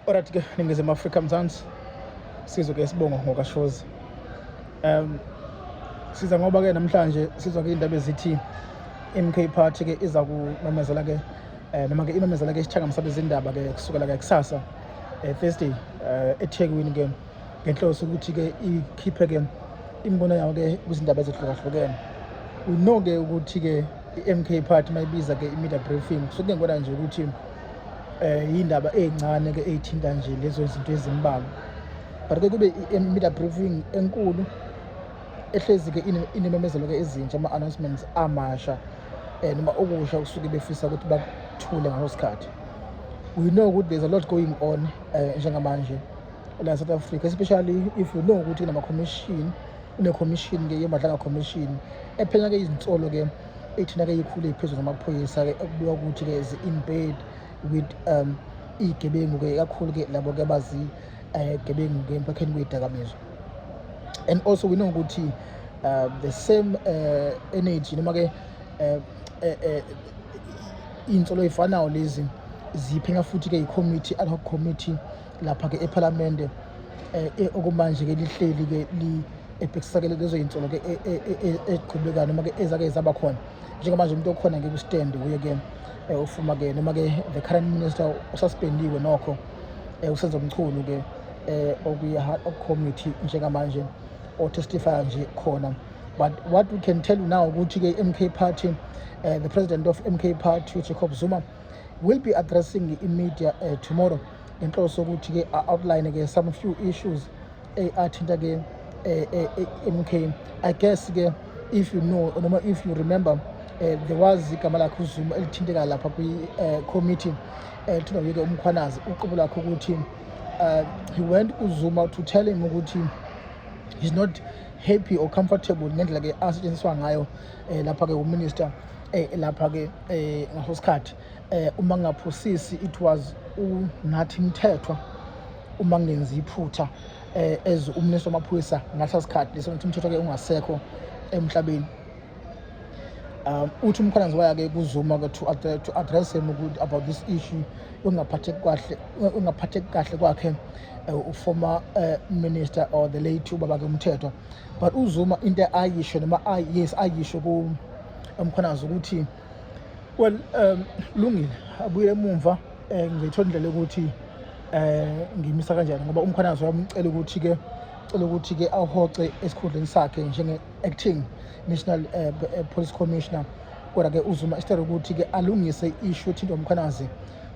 Alright ke ningizima Africa Mzansi sizwe ke isibongo ngokashozi um siza ngoba ke namhlanje sizwa ke indaba ezithi MK party ke iza kumemezela ke eh, noma ke imemezela ke isithangamisa bezindaba ke kusukela ke kusasa eh, Thursday eh, eThekwini ke ngenhloso ukuthi ke ikhiphe ke imibono yawo ke kwizindaba ezihlukahlukene unoke ukuthi ke i-MK party mayibiza ke i-media briefing kusuke ngikona nje ukuthi eh indaba ezincane ke ezithinta nje lezo zinto ezimbalwa but ke kube i-media briefing enkulu ehlezi ke inememezelo ke ezintsha ama-announcements amasha um noma okusha kusuke befisa ukuthi bakuthule ngaleso sikhathi we know ukuthi there's a lot going on um njengamanje la south africa especially if you know ukuthi kunama-commission une-commission ke yemadlanga commission ephenya ke izinsolo ke ethina-ke ikhule phezulu ngamaphoyisa-ke okubika ukuthi-ke zi-inbed with um iy'gebengu-ke kakhulu-ke labo-ke abazigebengu-ke eh, emphakheni kwey'dakamizwa and also we know ukuthi uh, the same uh, energy noma-ke um iy'nsolo ey'fanayo lezi ziphenya futhi-ke yi-committee ad hoc committee lapha-ke ephalamende um okumanje-ke lihleli-ke ebhekisakele lezo yinsolo ke e, e, e, eziqhubekayo noma ke ezake zaba khona njengamanje umuntu okhona ke kwistand uye ke eh, ufuma ke noma ke the current minister ususpendiwe nokho eh, usenza umchunu ke eh, okuyi-heart of committee njengamanje otestifya nje khona but what we can tell you now ukuthi ke MK party uh, the president of MK party uJacob Zuma will be addressing i-media uh, tomorrow ngenhloso ukuthi ke outline ke some few issues eyi athinta ke eh, eh, eh, MK I guess ke if you know noma if you remember eh, there was igama lakhe uZuma elithinteka lapha kwi eh, committee eh, thina yeke umkhwanazi uqobo lakhe ukuthi uh, he went kuZuma to tell him ukuthi he's not happy or comfortable ngendlela ke asetshenziswa ngayo eh, lapha ke uminister eh, lapha ke eh, ngaso sikhathi eh uma ngaphosisi it was unathi mthethwa uma ngenza iphutha eh as umnisi wamaphoyisa ngalesa sikhathi leso ukuthi umthetho ke ungasekho emhlabeni um uthi umkhonanzi wayake kuzuma ke to to address him ukuthi about this issue ungaphatheki kahle ungaphatheki kahle kwakhe eh, uformer eh, minister or the late ubaba ke umthetho but uzuma into ayisho noma yes ayisho ku umkhonanzi ukuthi well um lungile abuye emumva eh ngithola indlela ukuthi eh ngimisa kanjani ngoba umkhwanazi wamcela ukuthi ke cela ukuthi ke ahoxe esikhundleni sakhe njenge acting national eh, eh, police commissioner kodwa ke uzuma isithere ukuthi ke alungise ishu ethinta umkhwanazi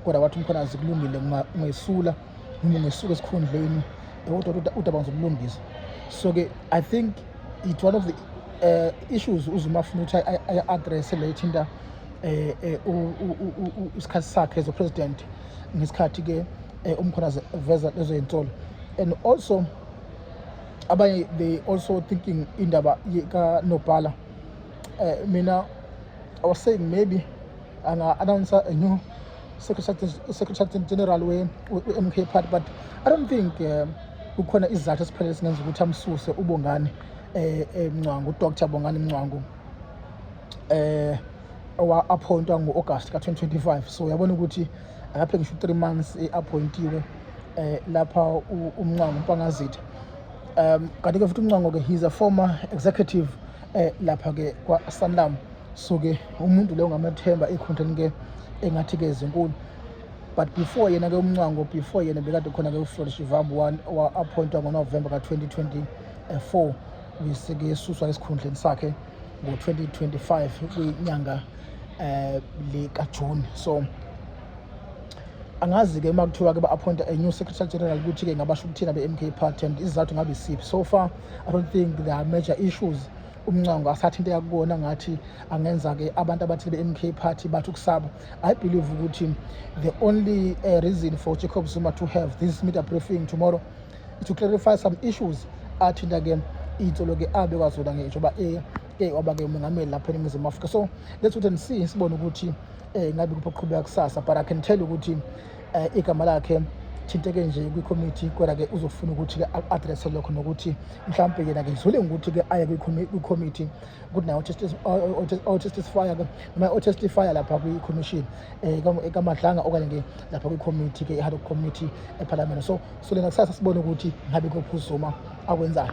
kodwa wathi umkhwanazi kulungile ngesula mina ngisuke esikhundleni dokotela udaba ngizobulungisa so ke i think it one of the uh, issues uzuma afuna ukuthi aya-address le ithinta eh, eh, isikhathi sakhe as a president ngesikhathi ke umkhona veza lezo yinsolo and also abanye they also thinking indaba kanobhala um mina i was saying maybe anga-announcer a new secretary general we-mk party but i don't think um, kukhona izizathu esiphelele singenza ukuthi amsuse ubongani eh, eh mncwangu udr bongani mncwangu eh aphointwa ngo-august ka-2025 so uyabona ukuthi akaphe ngisho u-three months e-appointiwe eh lapha umncwangu umpangazitha um kanti-ke futhi umncwango-ke he's a former executive eh lapha-ke kwa-sanlam so ke umuntu leyo ngamathemba i-content ke engathi ke zinkulu but before yena ke umncwango before yena bekade khona ke uflorish ivambu one wa-appointwa ngonovemba ka-2024 wisike esuswa esikhundleni sakhe ngo-2025 kwinyanga um likajuni so angazi-ke uma kuthiwa-ke ba-appointa a new secretary general ukuthi-ke ngabasho ukuthina be-m k party and izizathu ngabe siphi so far i don't think there are major issues umncango asathi into yakubona ngathi angenza-ke abantu abathile be-m k party bathi ukusaba i believe ukuthi the only uh, reason for jacob zuma to have this media briefing tomorrow is to clarify some issues athinta-ke iy'nsolo-ke abekwa zona ngisho uba eh, eh, waba-ke umengameli lapha eningizimu afrika so let's wait and see sibone ukuthi um ngabe kuphi okuqhubeka kusasa but i can tell ukuthi eh, igama lakhe thinteke nje kwikhomithi kodwa-ke uzofuna ukuthi-ke a-adresse lokho nokuthi mhlawumpe yena-ke zule ngokuthi-ke aye kwikhomithi ukuthi naye otestifya-ke noma otestifya lapha kwikhomishini um eh, kamadlanga okanye-ke lapha kwikhomithi-ke i-hard committee ephalamende so so lena kusasa sibone ukuthi ngabe kophuzuma akwenzayo